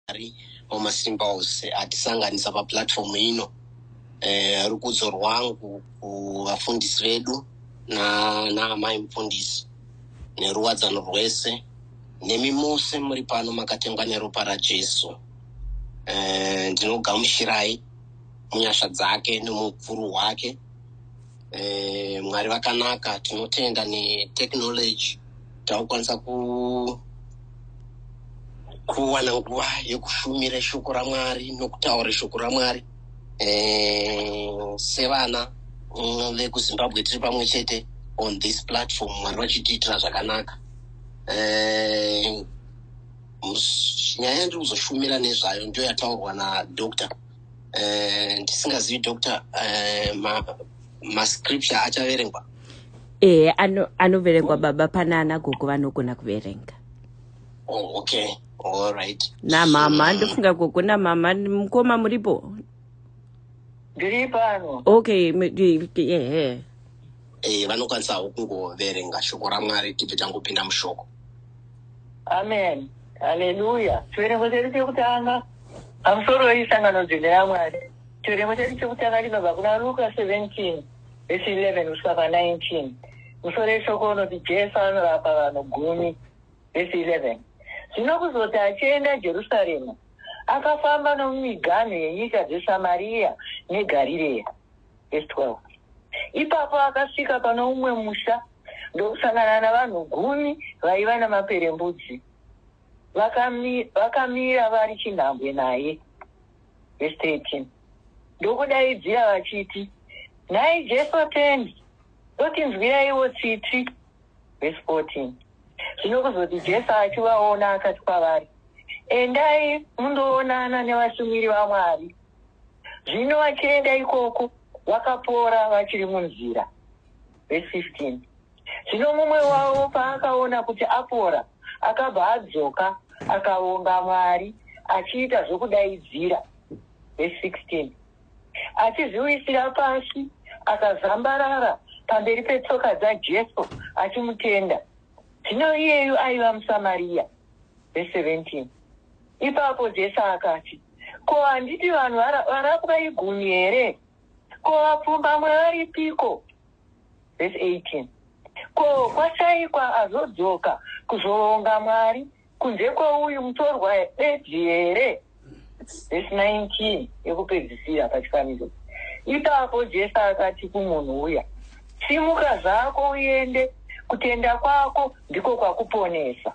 Mwari wamasimba ose atisanganisa paplatform ino eh, rukudzo rwangu kuvafundisi vedu naamai na mufundisi neruwadzano rwese nemi mose muri pano makatengwa neropa rajesu eh, ndinogamushirai munyasha dzake nemukuru wake e, mwari vakanaka tinotenda netechnology takukwanisa ku kuwana nguva yekushumira shoko ramwari nokutaura shoko ramwari e, sevana mm, vekuzimbabwe tiri pamwe chete on this platform mwari vachitiitira zvakanaka e, nyaya yandiri kuzoshumira nezvayo ndiyo yataurwa nadoctor eh, ndisingazivi uh, doctor uh, ma, mascripture achaverengwa ehe anoverengwa ano baba pana ana gogo vanogona kuverenga oh, okay all right namama so, ndofunga gogo namama mukoma muripo ndiri pano okay ehe yeah, yeah. e, vanokwanisawo kungoverenga shoko ramwari tibve tangopinda mushoko amen haleluya chiverengo chedu chekutanga pamusoro weisangano dzine yamwari chiverengo chedu chekutanga chinobva kuna luka 17 vesi 11 kusvika pa 19 musoro yeshoko unoti jesu anorapa vanhu gumi vesi 11 zvino kuzoti achienda jerusarema akafamba nomumiganhu yenyika dzesamariya negarireya vhesi 12 ipapo akasvika pano umwe musha ndokusangana navanhu gumi vaiva namaperembudzi vakamira vakami vari chinhambwe naye vhesi 13 ndokudaidzira vachiti nhai jesu atendi totinzwiraiwo tsitsi vhesi 14 zvino kuzoti jesu achivaona akati kwavari endai mundoonana nevashumiri vamwari Zvino vachienda ikoko, vakapora vachiri munzira. Verse 15. Zvino mumwe wavo paakaona kuti apora, akabva adzoka, akavonga Mwari, achiita zvokudaidzira. Verse 16. Achizviwisira pasi, akazambarara pamberi petsoka dzaJesu, achimutenda. Zvino iyeyu aiva muSamariya. Verse 17. Ipapo Jesu akati, ko handiti vanhu vara- varapwa igumi here ko vapfumbamwe varipiko vhesi 18 ko kwashaikwa azodzoka kuzoonga mwari kunze kweuyu mutorwa bedzi here vhesi 19 yekupedzisira pachifaniso ipapo jesu akati kumunhu uya simuka zvako uende kutenda kwako ndiko kwakuponesa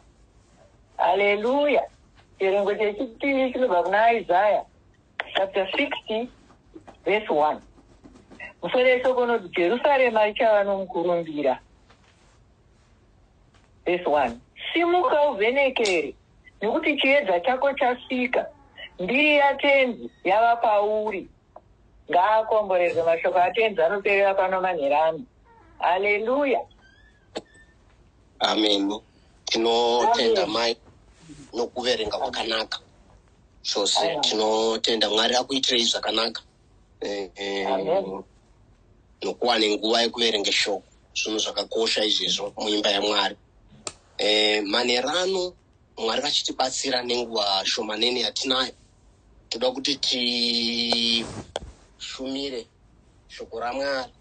haleluya Chiverengo chechipiri chinobva kuna Isaya chapter 60 verse 1. Musoro yeshoko unoti Jerusarema richava nomukurumbira. Verse 1. Simuka uvhenekere, nokuti chiedza chako chasvika, mbiri yatenzi yava pauri. Ngaakomborerwe mashoko atenzi anoperera pano manherano. Haleluya. amen tinotenda mai nokuverenga kwakanaka chose tinotenda mwari akuitirei zvakanaka eh, eh, nokuwane nguva yekuverenga shoko zvinhu zvakakosha izvezvo muimba yamwari eh, manerano mwari vachitibatsira nenguva shomanene yatinayo toda kuti tishumire shoko ramwari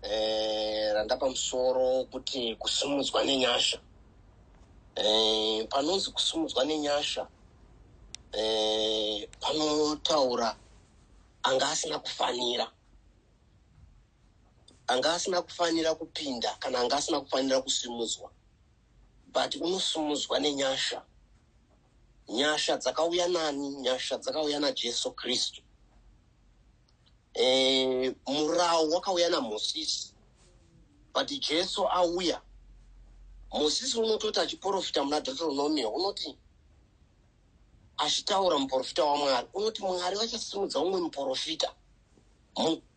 eh, randapa musoro kuti kusimudzwa nenyasha eh, panonzi kusimudzwa nenyasha eh, panotaura anga asina kufanira anga asina kufanira kupinda kana anga asina kufanira kusimudzwa but unosimudzwa nenyasha nyasha dzakauya nani nyasha dzakauya najesu kristu eh, murau wakauya namosisi but jesu auya mosisi unototi achiprofita muna deuteronomia unoti achitaura muprofita wamwari unoti mwari vachasimudza umwe muprofita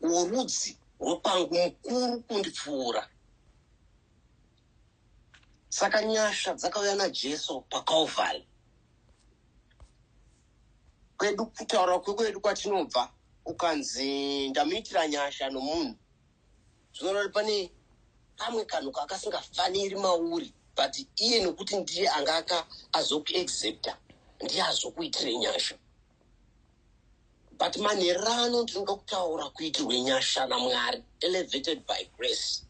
worudzi rwopangu mukuru kundipfuura saka nyasha dzakauya najesu pacalvary kwedu kutaura kwekwedu kwatinobva ukanzi ndamuitira nyasha nomunhu zvinorori pane kamwe kanhu kakasingafaniri mauri but iye nokuti ndiye anga aka azokuexepta ndiye azokuitire nyasha but manhererano ndinoda kutaura kuitirwe nyasha namwari elevated by grace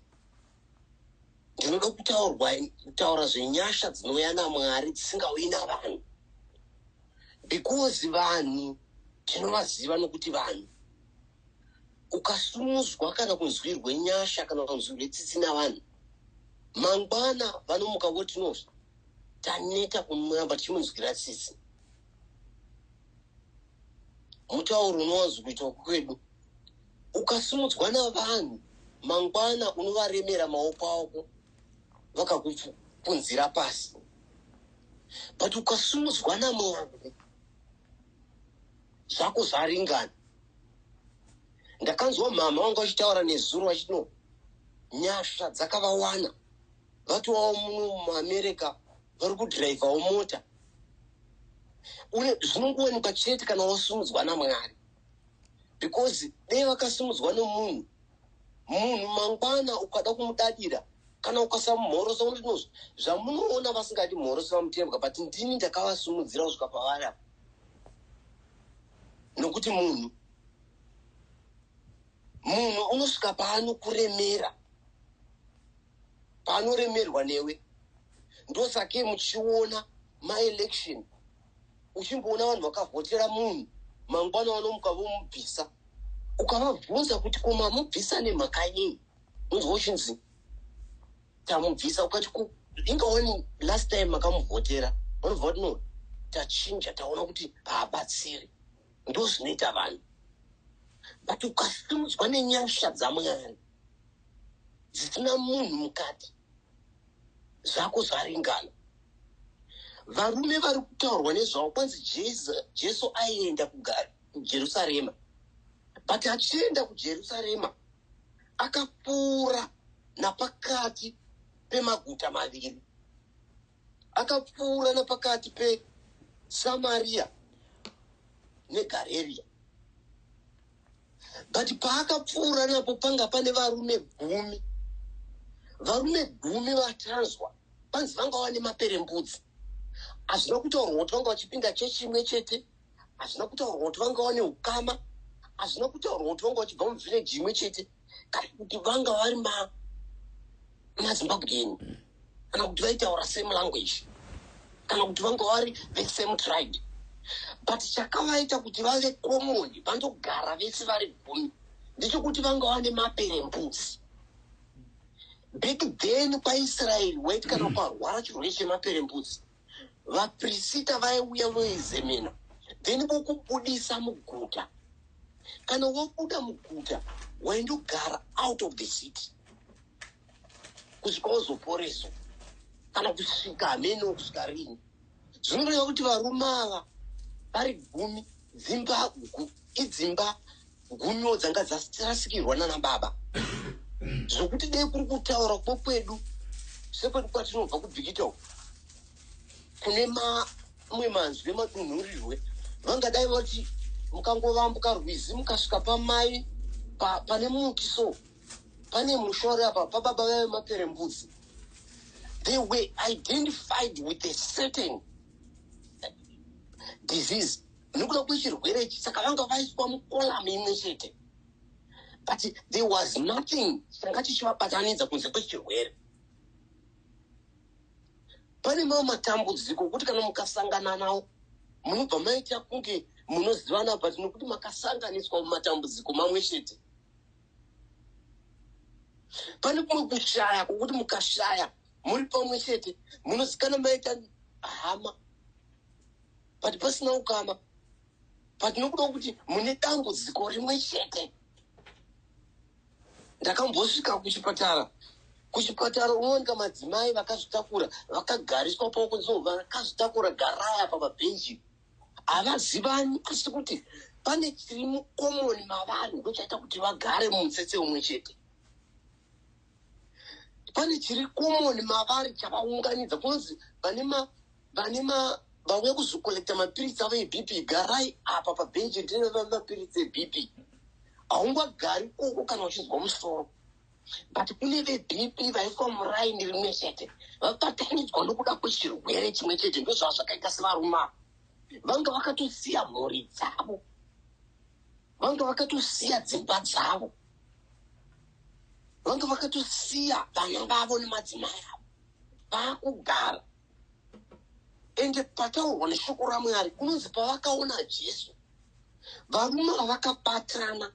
ndinoda kutaurwa kutaura zvenyasha dzinouya namwari dzisingauyi navanhu because vanhu tinovaziva nokuti vanhu ukasumudzwa kana kunzwirwe nyasha kana kunzwirwe tsitsi navanhu mangwana vanomuka voti no taneta kumuramba tichimunzwira tsitsi mutauro unowanzo kuitwa kwedu ukasimudzwa navanhu mangwana unovaremera maoko ako vakakupunzira pasi but ukasimudzwa namwari zvako zvaringana ndakanzwa mhama vanga vachitaura nezuro vachiti no nyasha dzakavawana vatovawo muno muamerica vari kudhiraivhawo mota une zvinongowanikwa chete kana wasimudzwa namwari because dei vakasimudzwa nomunhu munhu mangwana ukada kumudadira kana ukasamumhorosa unotinoz zvamunoona vasingadi mhorosi vamutembwa but ndini ndakavasimudzira kusvika pavari apa nokuti munhu munhu unosvika paanokuremera paanoremerwa newe ndosakei muchiona maelection uchimboona vanhu vakavhotera munhu mangwana vanomuka vomubvisa ukavabvunza kuti ko mamubvisa nemhaka yei unzwa uchinzi tamubvisa ukati ko inga wani last time makamuvhotera vanobva vati no tachinja taona kuti haabatsiri ndo zvinoita vanhu but ukasimudzwa nenyasha dzamwari dzisina munhu mukati zvako zvaringana varume vari kutaurwa nezvavo kwanzi jesu aienda kujerusarema but achienda kujerusarema akapfuura napakati pemaguta maviri akapfuura napakati pesamariya negareriya but paakapfuura napo panga pane varume gumi varume gumi vatanzwa panzi vanga vane maperembudzi hazvina kutaurwa kuti vanga vachipinda chechi imwe chete hazvina kutaurwa kuti vanga vane ukama hazvina kutaurwa kuti vanga vachibva muvhileji imwe chete kana kuti vanga vari mazimbabwean kana kuti vaitaura same language kana kuti vanga vari the same tribe but chakavaita kuti vave common vandogara vese vari gumi ndechekuti vanga vane maperembuzi back then kwaisraeri wait kana ukarwara chirwere chemaperembuzi vaprisita vaiuya voizemena then vokubudisa muguta kana wobuda muguta waindogara out of the city kusvika wozoporeswa kana kusvika hamene wokusvika rini zvinoreva kuti varume ava vari gumi dzimba idzimba gumio dzanga dzarasikirwa nana baba zvokuti dei kuri kutaura kwo kwedu sekwedu kwatinobva kubhikita uku kune mamwe manzwi emadunhurirwe vangadai vati mukangovambuka rwizi mukasvika pamai pa, pane muti so pane musha wari apa pababa vave mapere mbudzi they were identified with a certain disease nekuda kwechirwere ichi saka vanga vaiswa mukolamu imwe chete but there was nothing changa chichivabatanidza kunze kwechirwere pane mamwe matambudziko okuti kana mukasangana nawo munobva maita kunge munozivana but nokuti makasanganiswa mumatambudziko mamwe chete pane kumwe kushaya kwokuti mukashaya muri pamwe chete munozikana maita hama but pasina ukama but nokuda kuti mune dambudziko rimwe chete ndakambosvika kuchipatara kuchipatara unowanika madzimai vakazvitakura vakagariswa paokunzi vakazvitakura garaya pamabhenji havazivani asi kuti pane chiri mukomoni mavanhu ndochaita kuti vagare mumutsetse umwe chete pane chiri common mavari chavaunganidza kunonzi vane ma vane ma vauya kuzokolekta mapiritsi avo ebp garai apa pabhenji ndine mapiritsi ebp haungagari koko kana uchinzwa musoro but kune vebp vaiswa muraini rimwe chete vabatanidzwa nokuda kwechirwere chimwe chete ndozvava zvakaita sevaruma vanga vakatosiya mhuri dzavo vanga vakatosiya dzimba dzavo vanga vakatosiya vana vavo nemadzimai avo vaakugara ende pataurwa neshoko ramwari kunonzi pavakaona jesu varume vavakabatana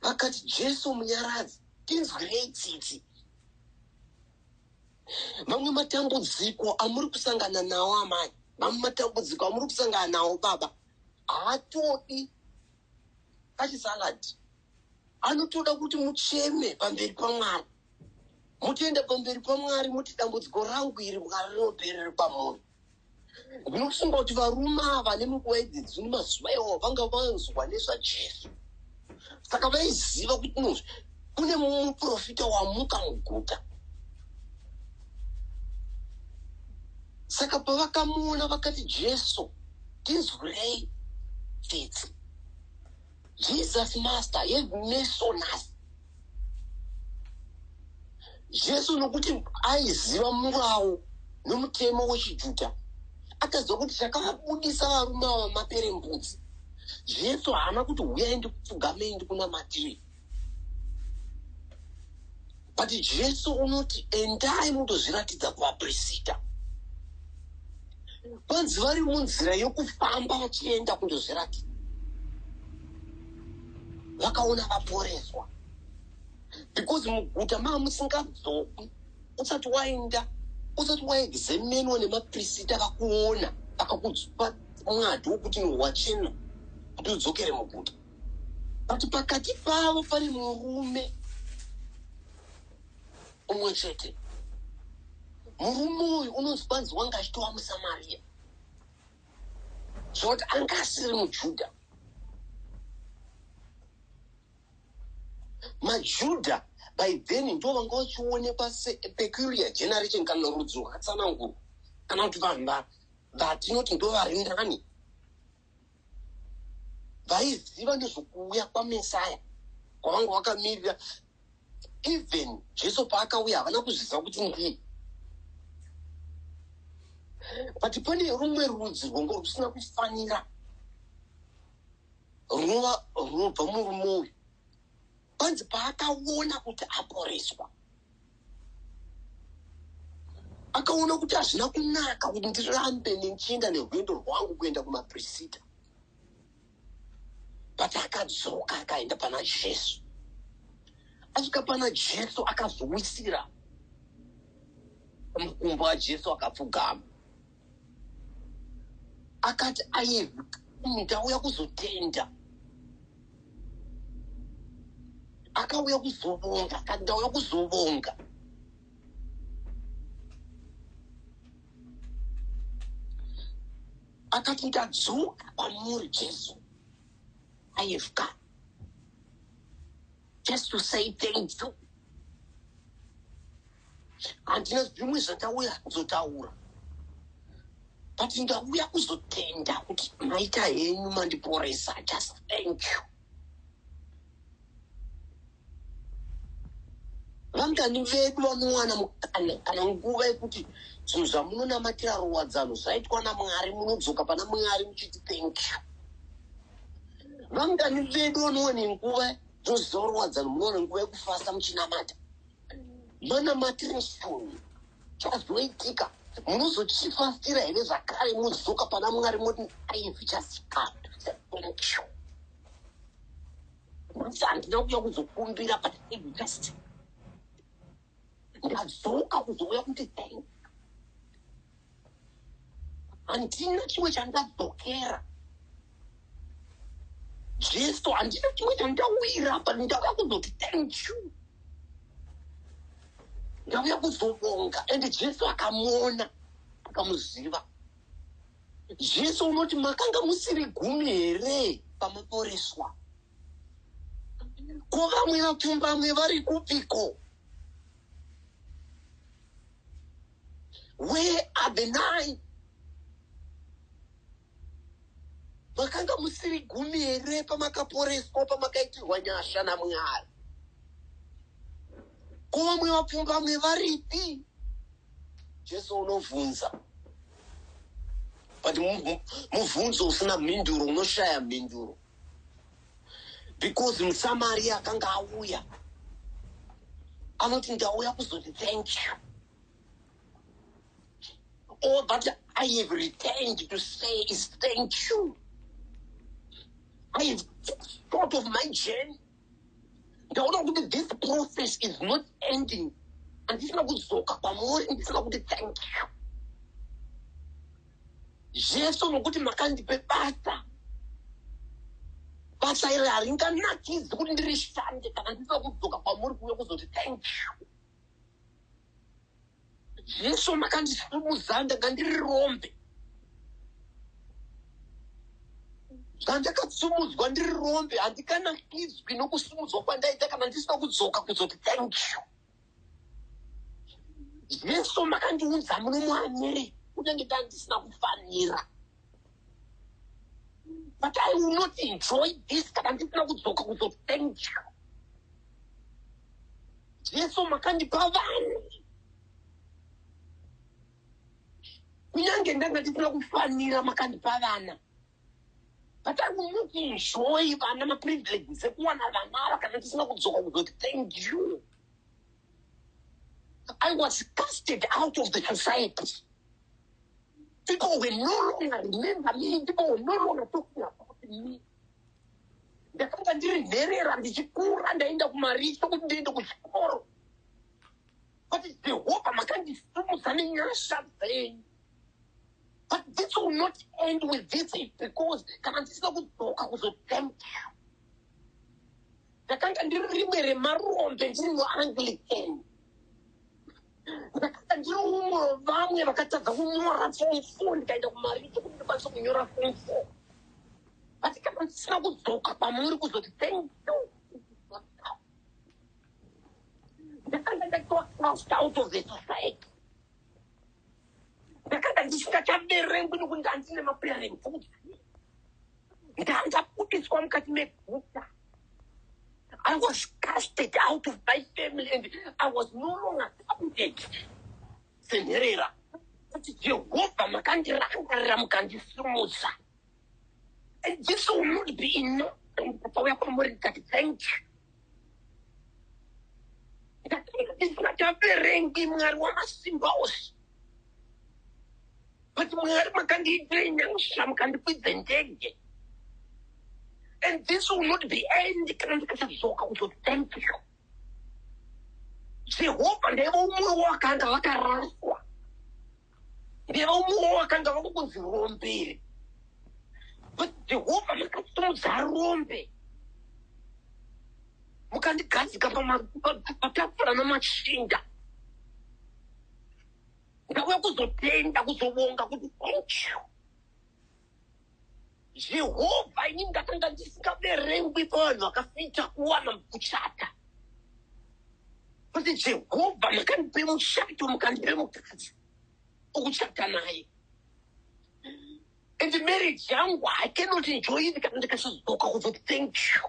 vakati jesu munyaradzi tinzwirei tsitsi mamwe matambudziko amuri kusangana nawo amai mamwe matambudziko amuri kusangana nawo baba haatodi kachisaladi anotoda kuti mucheme pamberi pamwari mutoenda pamberi pamwari muti dambudziko rangu iri mwari rinoperere pamunhu ndinofunga kuti varume ava nemunguva idzidzi nemazuva iwo vanga vanzwa nezvajesu saka vaiziva kuti nozvi kune muprofita wamuka muguta saka pavakamuona vakati jesu tinzwirei tsitsi jesus master yemesonas jesu nokuti aiziva murawo nomutemo wechijudha akaziva kuti chakavabudisa varume ava mapere mbudzi jesu haana kuti huyai ndikupfugamei ndikunamatiri but jesu unoti endai mutozviratidza kuvaprisita kwanzi vari munzira yokufamba vachienda kundozviratidza vakaona vaporeswa because muguta maa musingadzokwi usati waenda usati waexamenwa nemaprisita vakuona vakakupa mwadi wokuti nowachena kuti udzokere muguta but pakati pavo pane murume umwe chete murume uyu unonzi kwanzi wanga achitova musamariya zvekuti anga asiri mujudha majudha by then ndo vanga vachionekwa sepeculiar generation kana rudzo rwakatsanangurwa kana kuti vanhu vatinoti ndo vari nani vaiziva nezvokuuya kwamesaya kwavanga vakamirira even jesu paakauya havana kuzviziva kuti ndiye but pane rumwe rudzi rwongo rusina kufanira runova runobva murume uyu panzi paakaona kuti aporeswa akaona kuti hazvina kunaka kuti ndirambe nenchinda nerwendo rwangu kuenda kumaprisita but akadzoka akaenda pana jesu asvika pana jesu akazowisira mukumbo wajesu akapfugama akati aivi ndauya kuzotenda akauya kuzovonga akati ndauya kuzovonga Akati, Ndadzoka kwamuri, Jesu. I have come. Just to say thank you. Handina zvimwe zvandauya kuzotaura. But ndauya kuzotenda kuti maita henyu mandiporesa. Just thank you. vangani vedu vanowana mukana kana nguva yekuti zvinhu zvamunonamatira ruwadzano zvaitwa namwari munodzoka pana mwari muchiti thank you vangani vedu vanowane nguva dzoziva ruwadzano munowana nguva yekufasa muchinamata manamatireshoni chazoitika munozochifasira here zvakare mudzoka pana mwari moti aivi chasikato thank you Kuti handina kuuya kuzokumbira but I just ndadzoka kuzouya kuti thank handina chimwe chandadzokera jesu handina chimwe chandawira apa ndauya kuzoti thank you ndauya kuzobonga and jesu akamuona akamuziva Jesu unoti makanga musiri gumi here pamaporeswa? Ko vamwe vapfumbamwe vari kupiko? Where are the nine? Makanga musiri gumi here pamakaporeswa pamakaitirwa nyasha naMwari? Ko vamwe vapfumbamwe varipi? Jesu unovhunza but muvhunzo usina mhinduro unoshaya mhinduro because musamaria akanga auya anoti ndauya kuzoti thank you all oh, that i have returned to say is thank you i have thought of my journey ndaona kuti this process is not ending handisina kudzoka kwamuri ndisina kuti thank you jesu nokuti makandipe basa basa iri haringanakidzi kuti ndirishande kana ndisina kudzoka kwamuri kuuya kuzoti thank you Jesu makandisimudzira ndanga ndiri rombe. Zvandakasimudzwa ndiri rombe handikanakidzwi nokusimudzwa kwandaita kana ndisina kudzoka kuzoti thank you. Jesu makandiunza muno muamiri kunyange ndandisina kufanira. but i will not enjoy this kana ndisina kudzoka kuzothanka jesu makandipa vanhu kunyange ndanga ndisina kufanira makandipa vana but i will not enjoy vana maprivileges ekuwana vana ava kana ndisina kudzoka kuzoti thank you I was casted out of the society. People were no longer remember me. People were no longer talking about me. ndakanga ndiri nherera ndichikura ndaenda kumaricho kuti ndiende kuchikoro but jehovha makandisumudza nenyasha dzenyu but this will not end with this because kana ndisina kudzoka kuzotempera ndakanga ndiri rimwe remarombe ndiri muanglican ndakanga ndiri umwe vamwe vakatadza kunyora form four ndikaenda kumarito kuti ndikwanise kunyora form four asi kana ndisina kudzoka kwamuri kuzoti thank you ndakanga ndatoa out of the society ndakanga ndisingachaverengwi nokuti ndandine maperembudzi ndandabudiswa mukati meguta i was casted out of my family and i was no longer counted senherera kuti jehovha makandirangarira mukandisimudza This will not be enough. Ndakauya kwamuri ndikati thank you. Ndakaverengi Mwari wamasimba ose. But Mwari makandiitira nyasha mukandikwidza ndege. And this will not be end kana ndikatadzoka kuto thank you. Jehovha ndaivo umwe wakanga vakaraswa. nevaumwewo vakanga vava kunzi rombere but jehovha makasimudza rombe mukandigadzika patafura namachinda ndauya kuzotenda kuzovonga kuti thank you Jehovha ini ndakanga ndisingaverengwi pavanhu vakafita kuwana kuchata kuti Jehovha makandipe muchato mukandipe mukadzi ukuchata naye and marriage yangu I cannot enjoy it kana ndikasazodzoka kuzoti thank you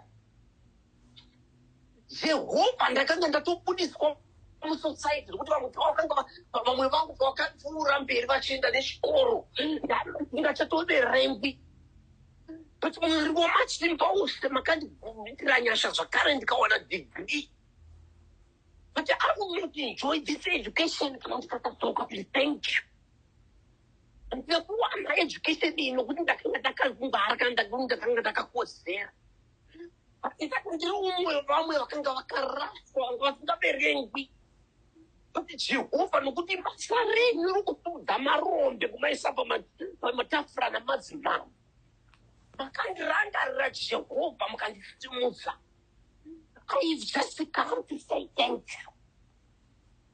Jehovha ndakanga ndatobudiswa musociety zvekuti vamwe pavakanga va- va- vamwe vangu pavakapfuura mberi vachienda nechikoro nda- ndingachatoverengwi but mwari wamachimba wose makandiitira nyasha zvakare ndikawana degree but i will not enjoy this education kana ndikakadzoka kuri thank you ndikakuwana education iyi nokuti ndakanga ndakazvingwara kana ndakanga ndakakodzera Ita kuti ndiri umwe wevamwe vakanga vakaraswa vanga vasingaverengwi kuti Jehovha nokuti basa renyu rokutudza marombe kumaisa pama- pamatafura namadzimambo. Makandirangarira Jehovha mukandisimudza. I've just come to say thank you.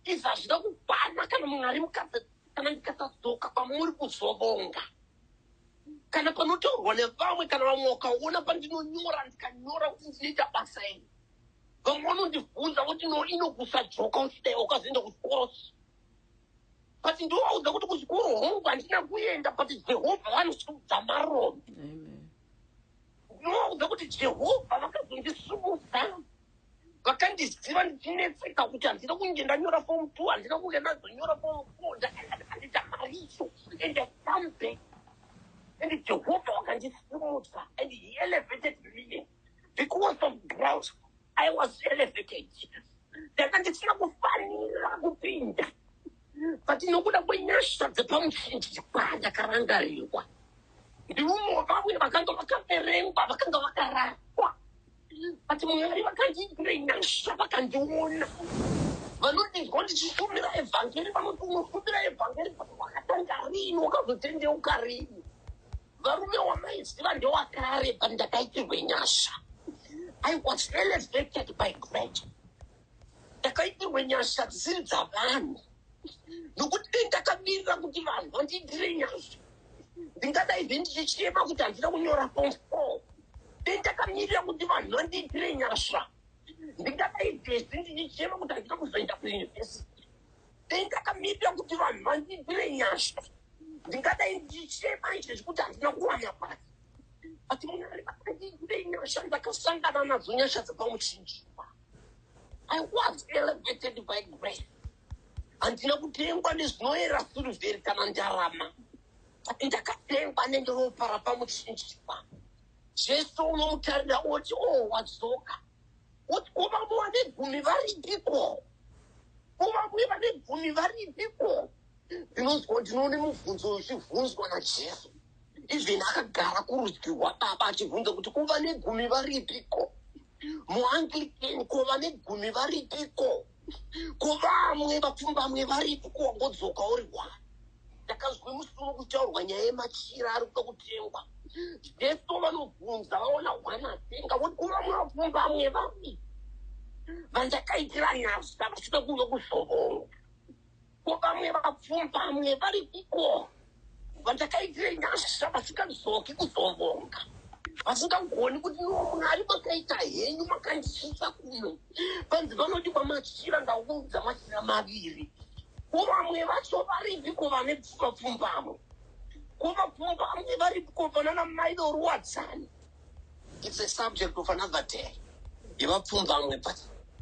izvi hazvina kukwana kana munhu ari mukadzi kana ndikatadzoka kwamuri kuzovonga kana panotaurwa nevamwe kana vamwe wakaona pandinonyora ndikanyora kuti ndinoita basa iri vamwe vanondibvunza kuti no inokusadzoka usidai wakazoenda kuchikoro but ndovaudza kuti kuchikoro hongu handina kuenda but jehovha vanochiudza marombe ndovaudza kuti jehovha vakazondisumudza vakandiziva ndichinetseka kuti handina kunge ndanyora fom two handina kunge ndazonyora fom four ndakaaita mari icho and sambe and jehovha wakandisimudza and he elevated me because of grouse i was elevated ndanga ndisina kufanira kupinda but nokuda kwenyasha dzepamuchinjikwa ndakarangarirwa ndiumo vamwe vakanga vakaverengwa vakanga vakarara but mwari vakandiitira nyasha vakandiona vanodinzwa ndichishumira evhangeri vanoti unoshumira evhangeri but wakatanga rini wakazotendeuka rini varume wamaiziva ndewakare but ndakaitirwe nyasha i was elevated by grace ndakaitirwa nyasha dzisiri dzavanhu nokuti dei ndakamirira kuti vanhu vandiitire nyasha ndingadai zve ndichichema kuti handina kunyora form four dei ndakamirira kuti vanhu vandiitire nyasha ndingadai zvese ndichichema kuti handina kuzoenda kuyunivhesiti dei ndakamirira kuti vanhu vandiitire nyasha ndingadai ndichichema izvezvi kuti handina kuwana basa but munhu ari vakandiitire nyasha ndakasangana nadzo nyasha dzepamuchinjikwa I was elevated by grace. Handina kutengwa nezvinoera sirivheri kana ndarama. Ndakatengwa nenderopa rapamuchinjikwa. Jesu unomutarira oti, oh, wadzoka. Woti, ko vamwe vane gumi varipiko? Ko vamwe vane gumi varipiko? ndinonzwa ndinoone mubvunzo uyu uchivhunzwa najesu even akagara kurudyi rwababa achivhunza kuti ko vane gumi varipiko muanglican ko vane gumi varipiko ko vamwe vapfumbamwe varipi ko wangodzoka uri wani ndakazwe musoro kuchaurwa nyaya yemachira ari kuda kutengwa jesu vanobvunza vaona hwana atenga voti ko vamwe vapfumbamwe vapi vandakaitira nyasa vachida kuve kuzovonga Ko vamwe vapfumbamwe varipiko vandakaitire nyasha vasingadzoki kuzovonga vasingagoni kuti iwo mwari makaita henyu makandisvitsa kuno vanzi vanoti kwamachira ndaunza machira maviri ko vamwe vacho varipi ko vane vapfumbamwe ko vapfumbamwe varipi ko vanana mai doruwadzani its a subject of another day yevapfumbamwe but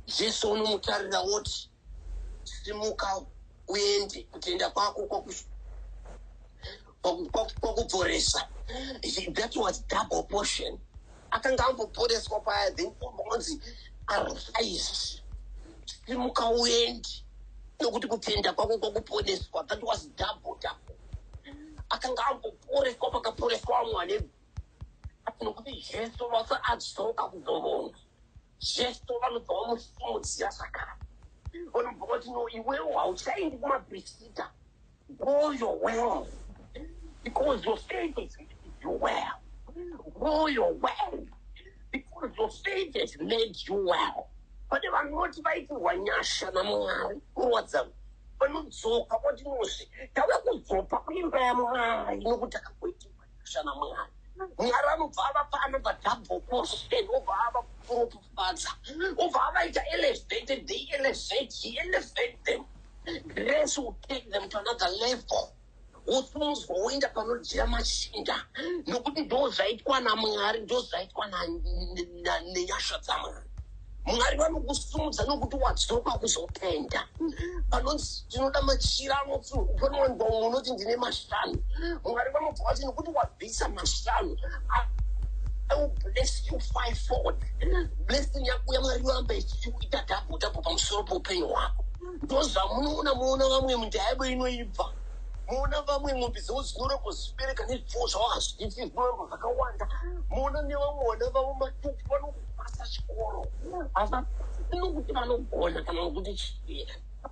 jesu unomutarira woti simuka uende kutenda kwako kwakupforesa that was double portion akanga amboporeswa paya then onzi arise simuka uende nokuti kutenda kwako kwakuponeswa that was double double akanga amboporeswa pakaporeswa amwana nokuti jesu vasa adzoka kuzovona Jesu vanobva vamusimudzira zvakare vanobva vati no iwewo hauchaendi kumabrisita go your well because your faith is you well go your well because your faith has made you well pane vanoti vaitirwa nyasha namwari kurwadza vanodzoka voti nozve tave kudzoka kuimba yamwari nokuti akakuitirwa Shana mwana. Mwari anobva avapa anobva double portion obva ava kuropafadza obva avaita elevated they elevate he elevate them grace will take them to another level wosimudzwa woenda panodyira machinda nokuti ndo zvaitwa namwari ndo zvaitwa nenyasha dzamwari mwari vanokusimudza nokuti wadzoka kuzopenda vanonzi tinoda machira anopfunowanikwa umwe unoti ndine mashanu mwari vanobva vati nokuti wabvisa mashanu blessing yako yamwari yoramba ichiita dhapo dhapo pamusoro poupenyu hwako ndozvamunoona muona vamwe mundayabo inoibva muona vamwe mombe dzavo dzinoroko zibereka nezvipfuwo zvavo hazviiti zvinoramba zvakawanda muona nevamwe vana vavo matupu vano basa chikoro basa nokuti vanogona kana nokuti chii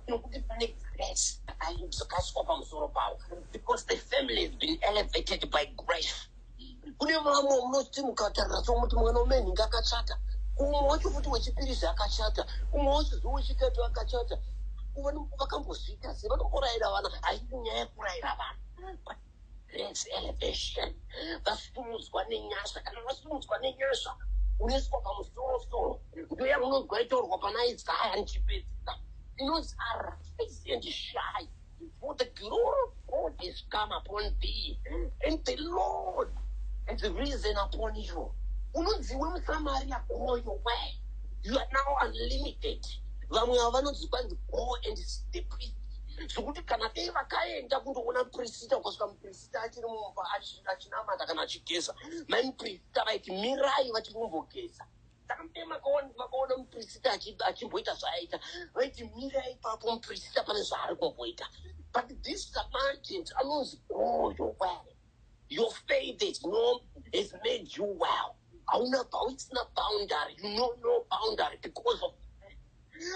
nokuti pane grace dzakaiswa pamusoro pavo because the family has been elevated by grace kune vamwe unoti mukatarira somuti mwana umenhinga akachata umwe wacho futi wechipirizi akachata umwe wacho zuva wechitatu akachata vakambozviita sei vanomboraira vana haisi nyaya yekurayira vana Grace elevation vasimudzwa nenyasha kana vasimudzwa nenyasha unoiswa pamusoro soro ndo yamunonzwa itaurwa pana isaya ndichipedzisa inonzi arise and shine for the glory of god is come upon thee and the lord has risen upon you unonzi we musamaria goyo we you are now unlimited vamwe ava vanonzi kwanzi go and step it zvekuti kana dei vakaenda kundoona mupirisita ukasvika mupirisita achiri mumba achinamata kana achigeza mai mupirisita vaiti mirai vachiri kumbogeza saka mudei makaona mupirisita achimboita zvaaita vaiti mirai ipapo mupirisita pane zvaari kumboita but this samaritant anonzi goyo well your faith is, no, is made you well hauna hausina boundary you know no boundary because of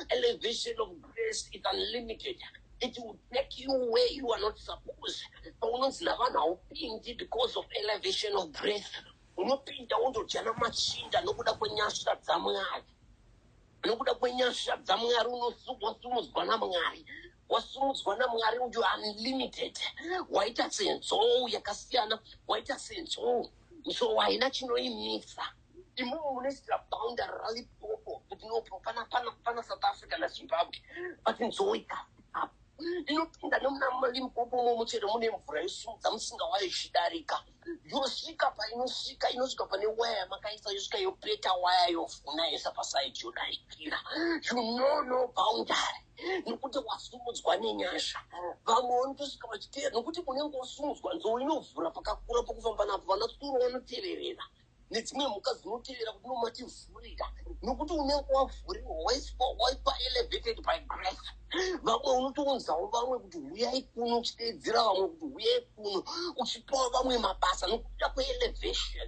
elevation of grace is unlimited it will take you where you are not supposed paunonzi navanhu haupindi because of elevation of grace unopinda wondodyana machinda nokuda kwenyasha dzamwari nokuda kwenyasha dzamwari unosumudzwa namwari wasumudzwa namwari uyu unlimited waita senzou yakasiyana waita senzou so haina chinoimisa imomo munoisira bounder ralipopo kuti no pana pana pana south africa nazimbabwe but nzoita inopinda nemuna limpopo momo chero mune mvura yosimudza musinga wayo ichidarika yosvika painosvika inosvika pane waya yamakaisa yosvika yopeta waya yovhuna yesa pasaidi yodarikira you know no boundary nokuti wasumudzwa nenyasha vamwe vanotosvika vachiteera nokuti unenge wasumudzwa nzou inovhura pakakura pokufamba napo vana tsuro vanoteverera nedzimwe mhuka dzinoteverera kuti nomativhurira nokuti unenge wavhuriwa waiswa waipa elevated by grace vamwe unotounzawo vamwe kuti huyai kuno uchiteedzera vamwe kuti huyai kuno uchipawo vamwe mabasa nokuda kweelevation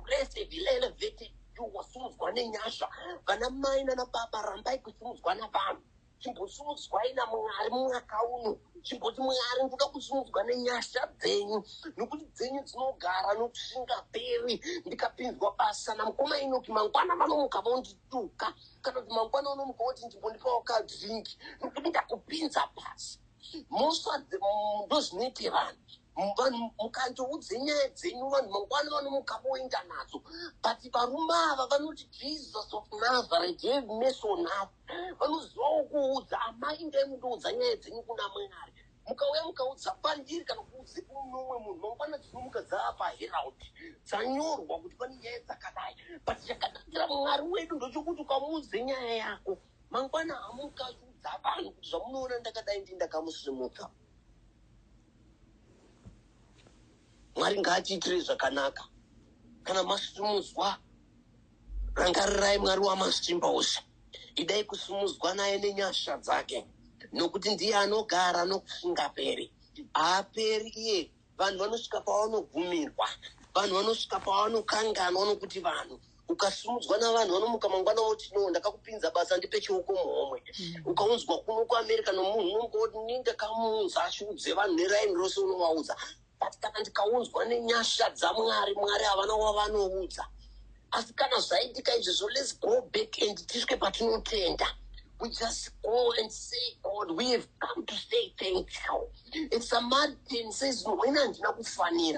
grace have elevated iwe wasimudzwa nenyasha vana mai nana baba rambai kusimudzwa navanhu chimbosimudzwai namwari mwaka uno chimboti mwari ndoda kusimudzwa nenyasha dzenyu nokuti dzenyu dzinogara nokuti zvingaperi ndikapinzwa basa namukoma inoki mangwana vanomuka vondituka kana kuti mangwana unomuka woti ndimbondipawo kadringi nokuti ndakupinza basa moswa ndozvinoite vanhu vanhu mukandiudze nyaya dzenyu vanhu mangwana vanomuka voenda nadzo but varume ava vanoti jesus of nazareth have mercy on us vanozivawo kuudza amai ndai mundiudza nyaya dzenyu kuna mwari mukauya mukaudza pandiri kana kuudze kunomwe munhu mangwana dzinomuka dzava paherald dzanyorwa kuti pane nyaya dzakadai but chakanakira mwari wedu ndochokuti ukamuudze nyaya yako mangwana hamuka achiudza vanhu kuti zvamunoona ndakadai ndi ndakamusimudza mwari ngaatiitire zvakanaka kana masitumudzwa rangarirai mwari wamasimba ose idai kusumudzwa naye nenyasha dzake nokuti ndiye anogara nokusingaperi haaperi iye vanhu vanosvika pavanogumirwa vanhu vanosvika pavanokanganwa nokuti vanhu ukasimudzwa navanhu vanomuka mangwana voti no ndakakupinza basa ndipe chioko muhomwe mm. ukaunzwa kuno kuamerica nomunhu unomuka woti ni ndakamuunza ashiudze vanhu neraini rose unovaudza but kana ndikaunzwa nenyasha dzamwari mwari havana wavanoudza asi kana zvaitika izvezvo lets go back and tisvike patinotenda we just go and say, God, we have come to say thank you. It's a mad thing, says, no, when I'm not funny.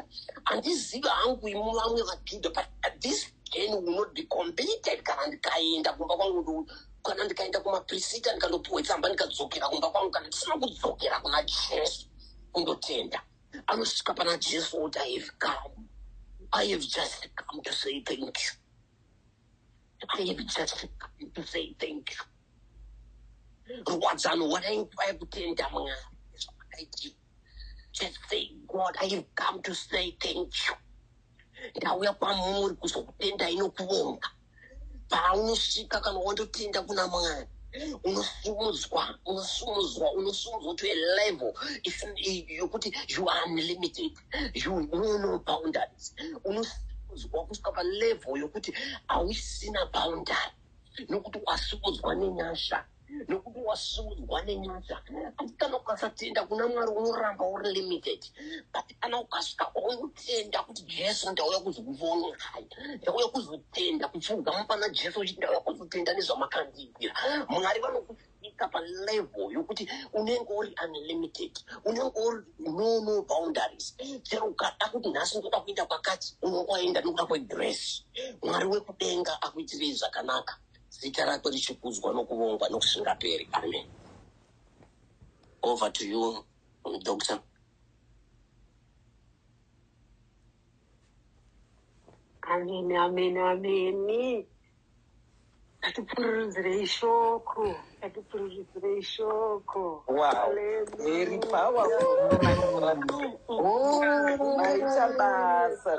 And this is hungry, but at this day, we will not be completed. Can't kind of go kana ndikaenda kumaprisita ndikandopiwa tsamba ndikadzokera kumba kwangu kana ndisina kudzokera kuna jesu kundotenda anosvika pana jesu oti i have come i have just come to say thank you rwadzano wadainguva yekutenda mwari zvakaitii just say god i have come to say thank you ndauya kwamuri kuzokutenda inokuvonga paunosvika kana wandotenda kuna mwari unosumudzwa unosumudzwa unosumudzwa to a level yokuti you are unlimited you know no boundaries unosimudzwa kusvika palevel yokuti hausina boundary nokuti wasimudzwa nenyasha nokuti wasimudzwa nenyasha asi kana ukasatenda kuna mwari unoramba uri limited but kana ukasvika kwaunotenda kuti jesu ndauya kuzokuvonorai ndauya kuzotenda kupfuga mupana jesu uchiti ndauya kuzotenda nezvamakandiitira mwari vanokuti kusvika palevel yokuti unenge uri unlimited unenge uri no no boundaries chero ukada kuti nhasi ndoda kuenda kwakati unongoenda nokuda kwegrace mwari wekudenga akuitirei zvakanaka zita rake richikudzwa nokuvongwa nokusingaperi amen over to you doctor Ameni, ameni, ameni. Atipfururudzirei shoko, atipfururudzirei shoko. Wow, very powerful. Maita basa.